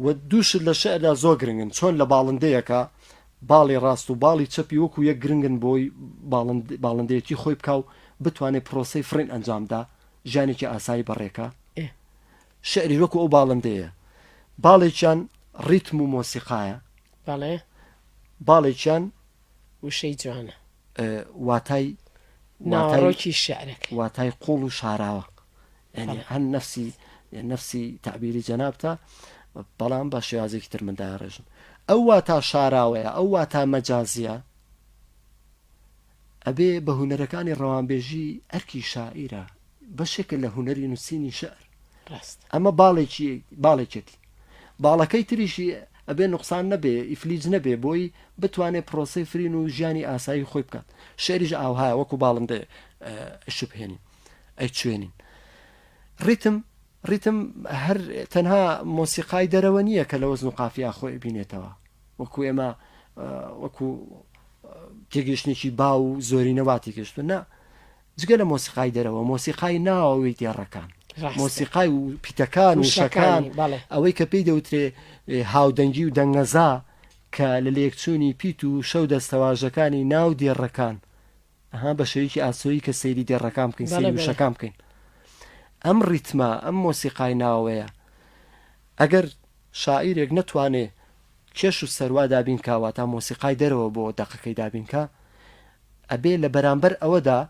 و دوو شت لە شیعردا زۆر گرنگن، چۆن لە باڵندەیەکە باڵی ڕاست و باڵی چەپی وەکوو یەک گرنگن بۆی باڵند باڵندەیەتی خۆی بکا و بتوانێ پرۆسەی فڕین ئەنجام بدا، ژیانێکی ئاسایی بەڕێ کا. ئێ شیعریش وەکوو ئەو باڵندەیە، باڵێکیان ڕیتم و مۆسیقایە. بەڵێ. باڵێکیان. وشەی جوانە. واتای ناوەڕۆکی شیعرەکە. واتای قوڵ و شاراوە. یانی هەم نەفسی نەفسی تەعبیری جەنابتە بەڵام بە شێوازێکی تر من داڕێژم. ئەو واتا شاراوەیە، ئەو واتا مەجازییە، ئەبێ بە هونەرەکانی ڕەوانبێژی ئەرکی شاعیرە، بەشێکە لە هونەری نووسینی شعر ڕاست ئەمە باڵێکی باڵێکێتی باڵەکەی تریشی ئەبێ نقصان نەبێ ئیفلیج نەبێ بۆی بتوانێت پرۆسی فرین و ژیانی ئاسایی خۆی بکات شعریش ئاوها وەکو باڵندێ شوبهێنی ئەی چێنین ڕیتم ڕیتم هەر تەنها مۆسیقای دەرەوە نییە کە لە وەزن و قافیا خۆی بینێتەوە وەکو ئێمە وەکو تێگەشتێکی با و زۆرینەوا تێگەشتون نا جگە لە مۆسیقای دەرەوە، مۆسیقای ناوەوەی دێڕەکان، مۆسیقای و پیتەکان و شەکان، ئەوەی کە پێی دەوترێ هاودەنگی و دەنگەزا کە لە لێکچوونی پیت و شەو دەستەواژەکانی ناو دێڕەکان، ئەها بە شێوەیەکی ئاسۆیی کە سەیری دێڕەکان بکەین، سەیری وشەکان بکەین. ئەم ڕیتمە، ئەم مۆسیقای ناوەوەیە، ئەگەر شاعیرێک نەتوانێ کێش و سەروا دابین کا، واتا مۆسیقای دەرەوە بۆ دەقەکەی دابین کا، ئەبێ لە بەرامبەر ئەوەدا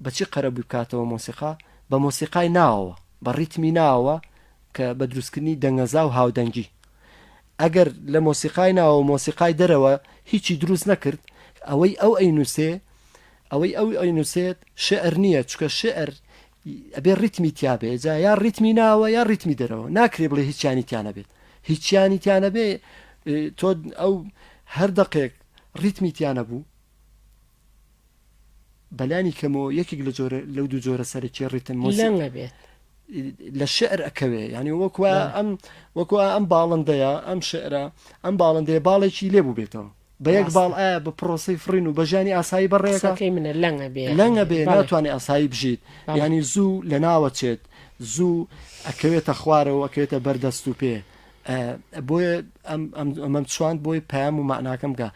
بە چی قەرەبووی بکاتەوە مۆسیقا؟ بە مۆسیقای ناوەوە، بە ڕیتمی ناوەوە کە بە دروستکردنی دەنگەزا و هاودەنگی. ئەگەر لە مۆسیقای ناوەوە و مۆسیقای دەرەوە هیچی دروست نەکرد، ئەوەی ئەو ئەینووسێ، ئەوەی ئەو ئەینووسێت شیعر نییە، چونکە شیعر ئەبێ ڕیتمی تیا بێ، جا یا ڕیتمی ناوەوە یا ڕیتمی دەرەوە، ناکرێ بڵێ هیچیانی تیا نەبێت. هیچیانی تیا نەبێ تۆ ئەو هەر دەقێک، ڕیتمی تیا نەبوو، بەلانی کەمەوە یەکێک لە جۆرە لەو دوو جۆرە سەرەکی ڕیتم مۆسیقا بێت لە شعر ئەکەوێ ینی وەکوە ئەم وەکوە ئەم باڵندەیە ئەم شعرە ئەم باڵندەیە باڵێکی لێ بوو بێتەوە بە یەک باڵ ئایا بە پرۆسی فرین و بەژانی ئاسایی بەڕێەکەی منە لەنگە بێ لەنگە بێ ناتوانێت ئاسایی بژیت ینی زوو لە ناوەچێت زوو ئەکەوێتە خوارەوە ئەکەوێتە بەردەست و پێ بۆیە ئەمەم چواند بۆی پەیام و مەعناکەم گا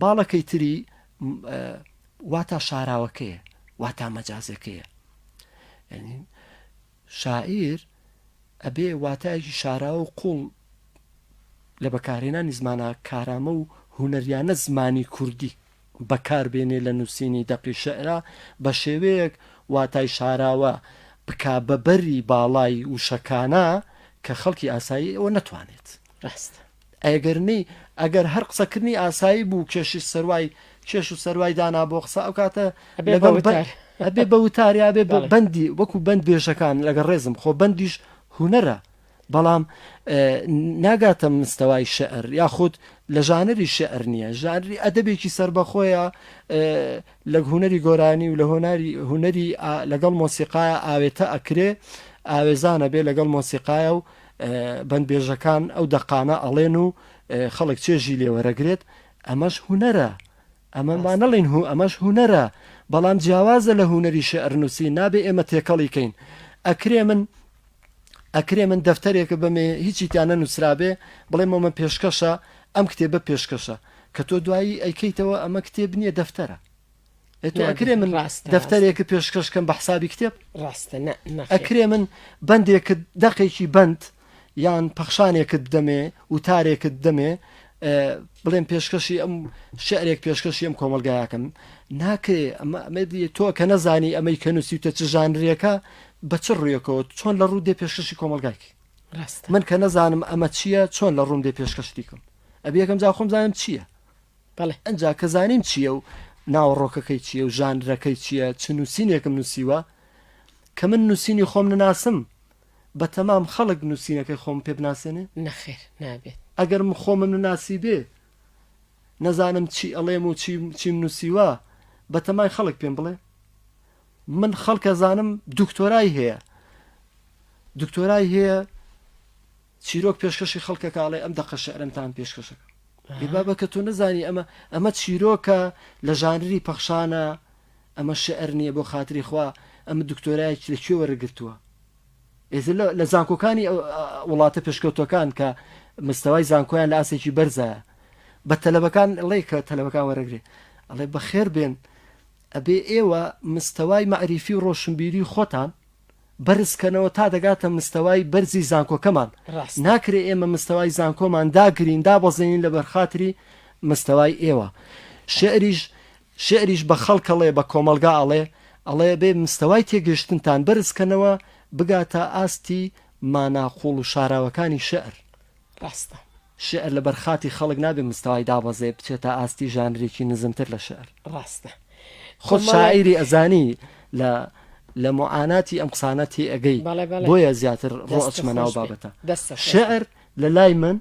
باڵەکەی تری واتا شاراوەکەیە واتا مەجازەکەیە شاعیر ئەبێ واتایەکی شاراوە و قوڵ لە بەکارهێنانی زمانە کارامە و هوەریانە زمانی کوردی بەکار بێنێ لە نووسینی دەقی شیعرا بە شێوەیەک واتای شاراوە بکا بە بەری باڵای وشەکانا کە خەڵکی ئاسایی ئەوە نەتوانێت. ڕاستە. ئەگەر نەی ئەگەر هەر قسەکردنی ئاسایی بوو کێشی سەروای کێش و سەروای دانا بۆ قسە ئەو کاتە ئەبێ بە لەگەڵ بە- وتار. ئەبێ بە وتاریا بێ بەڵێ. بەندی وەکو بەند بێژەکان لەگە ڕێزم خۆ بەندیش هونەرە بەڵام ناگاتە مستەوای شیعر یاخود لە ژانری شیعر نییە، ژانری ئەدەبێکی سەربەخۆیە لە هونەری گۆرانی و لە هۆناری هونەری لەگەڵ مۆسیقایە ئاوێتە ئەکرێ ئاوێزانە بێ لەگەڵ مۆسیقایە و بەندبێژەکان ئەو دەقانە ئەڵێن و خەڵک چێژی لێوەرەگرێت ئەمەش هونەرە ئەمە با نەڵین هو ئەمەش هونەرە بەڵام جیاوازە لە هونەری شعرنووسی نابێ ئێمە تێکەڵی کەین ئەکرێ من ئەکرێ من دەفتەرێک بەمێ هیچی تیا نەنووسرابێ بڵێم ئەمە پێشکەشە، ئەم کتێبە پێشکەشە، کە تۆ دوایی ئەیکەیتەوە ئەمە کتێب نییە دەفتەرە. ئێ تۆ ئەکرێ من دەفتەرێک پێشکەش کەم بە حسابی کتێب؟ ڕاستە نە. ئەکرێ من بەندێکت دەقێکی بەند یان پەخشانێکت بدەمێ وتارێکت بدەمێ بڵێم پێشکەشی ئەم شعرێک پێشکەشی ئەم کۆمەلگایەکەم ناکرێ ئەمە تۆ کە نەزانی ئەمەی کە نووسیوتە چ ژانرێکە بە چ ڕویەکەوە چۆن لە ڕوودێ پێشکەشی کۆمەلگایکی من کە نەزانم ئەمە چییە چۆن لە ڕوندێ پێشکەشتیکم ئەبیەکەم جا خۆم زانم چییە بەڵێ ئەجا کە زانیم چییە و ناوەڕۆکەکەی چییە و ژانرەکەی چییە چ نووسینێکم نووسیوە کە من نووسینی خۆم نەناسم بەتەمام خەڵک نوسینەکەی خۆمم پێ بناسێنێ؟ نەخێر نابێت. ئەگەر من خۆمم نەناسیبێ نەزانم چی ئەڵێم و چیم نوسیوە بەتەمای خەڵک پێم بڵێ؟ من خەڵک ئەزانم دکتۆرای هەیە دکتۆرای هەیە چیرۆک پێشکەشی خەڵکەکە ئەڵێ ئەم دەقە شعرمتان پێشکەشەکە ئێ بابە کە تۆ نەزانی ئەمە ئەمە چیرۆکە لە ژانری پەخشانە ئەمە شعر نیە بۆ خاتری خوا ئەمە دکتۆرایەکی لە کوێ وەرە گرتوە ئێتر لە زانکۆکانی وڵاتە پێشکەوتوەکان کە مستەوای زانکۆیان لە ئاسێکی بەرزایە بە تەلەبەکان ڵێ کە تەلەبەکان وەرەگرێ ئەڵێ بەخێر بێن ئەبێ ئێوە مستەوای مەعریفی و ڕۆشنبیری خۆتان بەرزکەنەوە تا دەگاتە مستەوای بەرزی زانکۆکەمان ناکرێ ئێمە مستەوای زانکۆمان داگرین دابەزێنین لە بەرخاتری مستەوای ئێوە شعریش شیعریش بە خەڵک ئەڵێ، بە کۆمەڵگا ئەڵێ، ئەڵێ بێ مستەوای تێگەیشتنتان بەرز کەنەوە بگاتە ئاستی مانا قووڵ و شاراوەکانی شیعر. ڕاستە شیعر لە بەر خاتی خەڵک نابێ مستەوای دابەزێ بچێتە ئاستی ژانرێکی نزمتر لە شیعر. ڕاستە خۆ خۆت مەڵێ. شاعیری ئەزانی لە لە موعاناتی ئەم قسانە تێ ئەگەی بەڵێ بەڵێ بۆیە زیاتر ڕۆ دەست ئەچمە ناو خۆش بێ بابەتە دەست خۆش بێ. شیعر لە لای من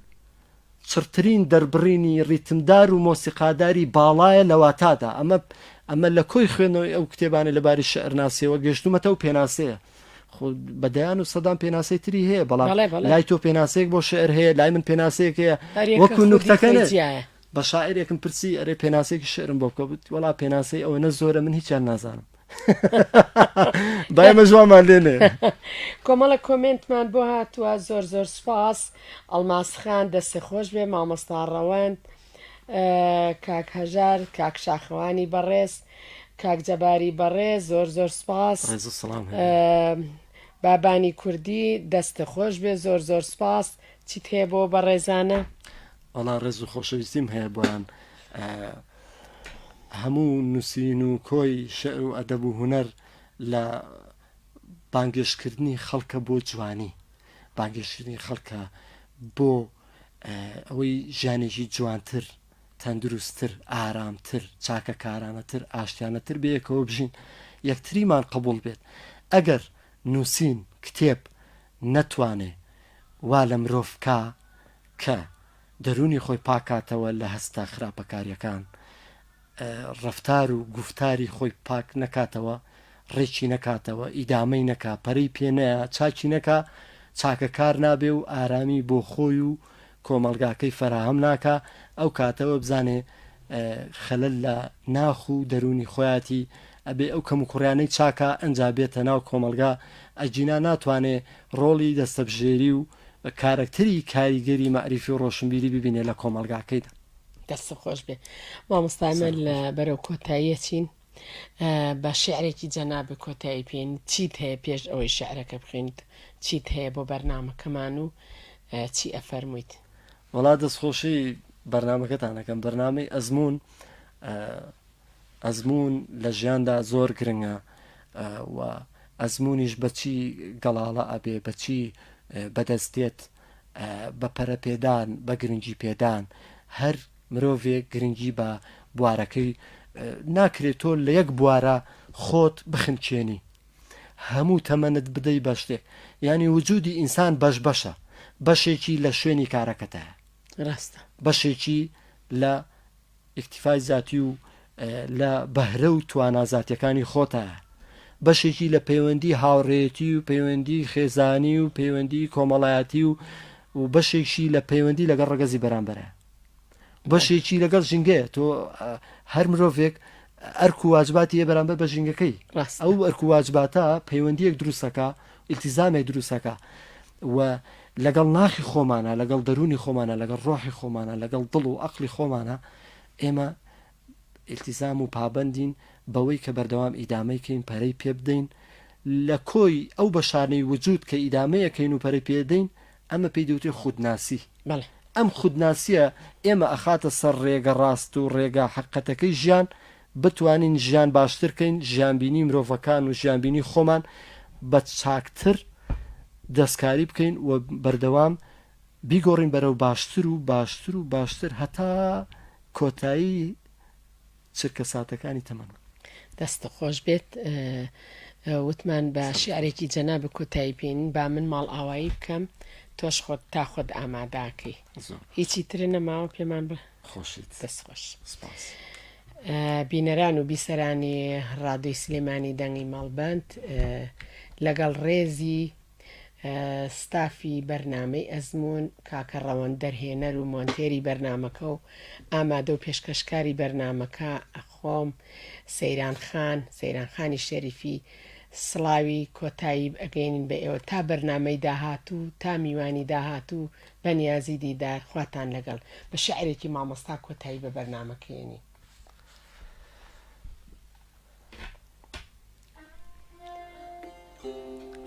چڕترین دەربڕینی ڕیتمدار و مۆسیقاداری باڵایە لە واتادا، ئەمە ئەمە لە کۆی خوێندنەوەی ئەو کتێبانەی لە باری شیعرناسییەوە گەشتوومەتە ئەو پێناسەیە. خۆ بە دەیان و سەدان پێناسەی تری هەیە، بەڵام بەڵێ بەڵێ لای تۆ پێناسەیەک بۆ شیعر هەیە، لای من پێناسەیەک هەیە، هەر یەکە وەکوو خودی نوکتەکە خۆی نێ جیایە. بە شاعیرێکم پرسی، ئەرێ پێناسەیەکی شیعرم بۆ بکە، گوت، وەڵا پێناسەی ئەوەنە زۆرە من هیچیان نازانم. دایمە جوانمان لێنێ کۆمەڵە کۆمنتمان بۆ هاتووە زۆر زۆر سپاس ئەڵماسخان دەستێ خۆش بێ مامۆستا ڕەوەند کاک هەژار کاک شاخەوانی بەڕێز کاک جەباری بەڕێ زۆر زۆر سپاس بابانی کوردی دەستە خۆش بێ زۆر زۆر سپاس چیت هەیە بۆ بەڕێزانە؟ ئەڵا ڕێز و خۆشەویستیم هەیە بۆیان هەموو نووسین و کۆی شیعر و ئەدەب و هونەر لە بانگێشتکردنی خەڵکە بۆ جوانی، بانگێشتکردنی خەڵکە بۆ ئەوەی ژیانێکی جوانتر، تەندروستتر، ئارامتر، چاکەکارانەتر، ئاشتیانەتر بەیەکەوە بژین، یەکتریمان قبوڵ بێت. ئەگەر نووسین، کتێب نەتوانێ وا لە مرۆڤ بکا کە. دەروونی خۆی پاک کاتەوە لە هەستە خراپەکاریەکان، ڕەفتار و گوفتاری خۆی پاک نەکاتەوە، ڕێکی نەکاتەوە، ئیدامەی نەکا، پەرەی پێ نەیا، چاکی نەکا، چاکەکار نابێ و ئارامی بۆ خۆی و کۆمەڵگاکەی فەراهەم ناکا، ئەو کاتە وەبزانێ خەلەل لە ناخ و دەروونی خۆیاتی، ئەبێ ئەو کەموکوڕیانەی چاکا ئەنجا بێتە ناو کۆمەڵگا، ئەگینا ناتوانێ ڕۆڵی دەستەبژێری و کارەکتەری کاریگەری مەعریفی و ڕۆشنبیری ببینێت لە کۆمەڵگاکەیدا. دەستت خۆش بێ مامۆستا ئەمە سەرت لە خۆش بێ. بەرەو کۆتاییە چین ئە بە شیعرێکی جەنابت کۆتایی پێین چیت هەیە پێش ئەوەی شیعرەکە بخوێنیت چیت هەیە بۆ بەرنامەکەمان و ئە چی ئەفەرموویت. وەڵا دەست خۆشی بەرنامەکەتان ئەکەم بەرنامەی ئەزموون ئە. ئەزموون لە ژیاندا زۆر گرنگە و ئەزمونیش بەچی گەڵاڵە ئەبێ بەچی بەدەست دێت بە پەرەپێدان بە گرنگی پێدان هەر مرۆڤێک گرنگی بە بوارەکەی ناکرێت تۆ لە یەک بوارە خۆت بخنچێنی هەموو تەمەنت بدەی بە شتێک ینی وجودی ئینسان بەش بەشە بەشێکی لە شوێنی کارەکەتە ڕاستە بەشێکی لە ئیکتیفای زاتی و لە بەهرە و توانا زاتیەکانی خۆتە بەشێکی لە پەیوەندی هاوڕێتی و پەیوەندی خێزانی و پەیوەندی کۆمەڵایەتی و و بەشێکشی لە پەیوەندی لەگەڵ ڕگەزی بەرامبەرە بەشێکی لەگەڵ ژینگەیە تۆ هەر مرۆڤێک ئەرک و واجباتی بەرامبەر بە ژینگەکەی ئەو ئەرک و واجباتە پەیوەندیەک دروستەکە ئیلتیزامێک دروستەکە و لەگەڵ ناخی خۆمانا، لەگەڵ دەروونی خۆمانا، لەگەڵ ڕۆحی خۆمانا، لەگەڵ دڵ و ئەقڵی خۆمانا، ئێمە ئیلتیزام و پابەندین بەوەی کە بەردەوام ئیدامەی کەین، پەرەی پێ بدەین، لە کۆی ئەو بەشانەی وجود کە ئیدامەی ئەکەین و پەرەی پێ ئەدەین، ئەمە پێی دەوترێ خودناسی. بەڵێ. ئەم خودناسییە ئێمە ئەخاتە سەر ڕێگە ڕاست و ڕێگا حەققەتەکەی ژیان، بتوانین ژیان باشتر کەین، ژیانبینی مرۆڤەکان و ژیانبینی خۆمان بە چاکتر دەستکاری بکەین و بەردەوام بیگۆڕین بەرەو باشتر و باشتر و باشتر هەتا کۆتایی چرکەساتەکانی تەمەن. دەستت خۆش بێت وتمان بە شیعرێکی جەنابت کۆتایی بین با من ماڵ ئاوایی بکەم تۆش خۆت تا خۆت ئاماداکەی هیچی ترە نەماوە پێمان بڵێ. خۆشیت دەست خۆش سپاس. بینەران و بیسەرانی ڕادوی سلێمانی دەنگی ماڵبند لەگەڵ ڕێزی ستافی بەرنمەی ئەزمون کاکە ڕەوەن دەرهێنەر و مۆنتێری بەرنمەکە و ئامادە و پێشکەشکاری بەرنمەکە ئەخۆم سەیران خان سەیران خانی شەریفی سڵاوی کۆتایی ئەگەین بە ئێوە تا بەرنمەی داهات و تا میوانی داهات و بەنیازی دیدار خواتان لەگەڵ. بە شعرێکی مامۆستا کۆتایی بە بەرنامەکەی ئێنین.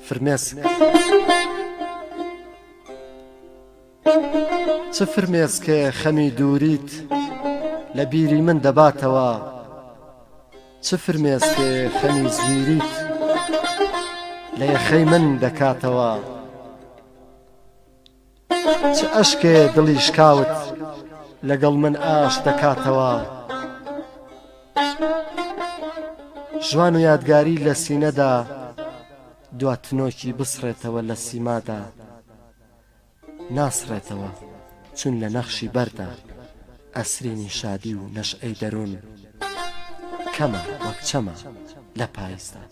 فرمێسک چ فرمێسکێ خەمی دووریت لە بیری من دەباتەوە چ فرمێسکێ خەمی زویریت لە یەخەی من دەکاتەوە چ ئەشکێ دڵی شکاوت لەگەڵ من ئاش دەکاتەوە ژوان و یادگاری لە سینەدا دوا تنۆکی بسڕێتەوە لە سیمادا ناسڕێتەوە چون لە نەخشی بەردا ئەسرینی شادی و نەشعەی دەروون کەمە وەک چەمە لە پاییزدا.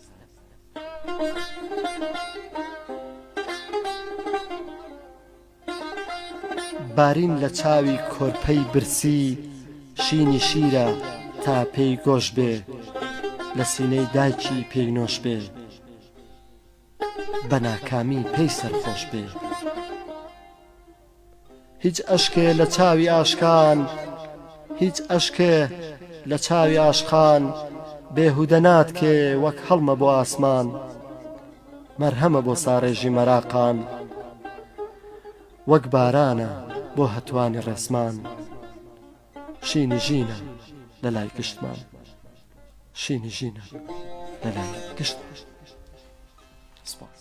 بارین لە چاوی کۆرپەی برسی شینی شیرە تا پێی گۆش بێ لە سینەی دایکی پێی نۆش بێ بە ناکامی پێی سەرخۆش بێ. هیچ ئەشکێ لە چاوی ئاشقان هیچ ئەشکێ لە چاوی ئاشقان بێهودە ناتکێ وەک هەڵمە بۆ ئاسمان مەرهەمە بۆ ساڕێژی مەراقان وەک بارانە بۆ هەتوانی ڕێسمان شینی ژینە لە لای گشتمان شینی ژینە لە لای گشتمان سپاس.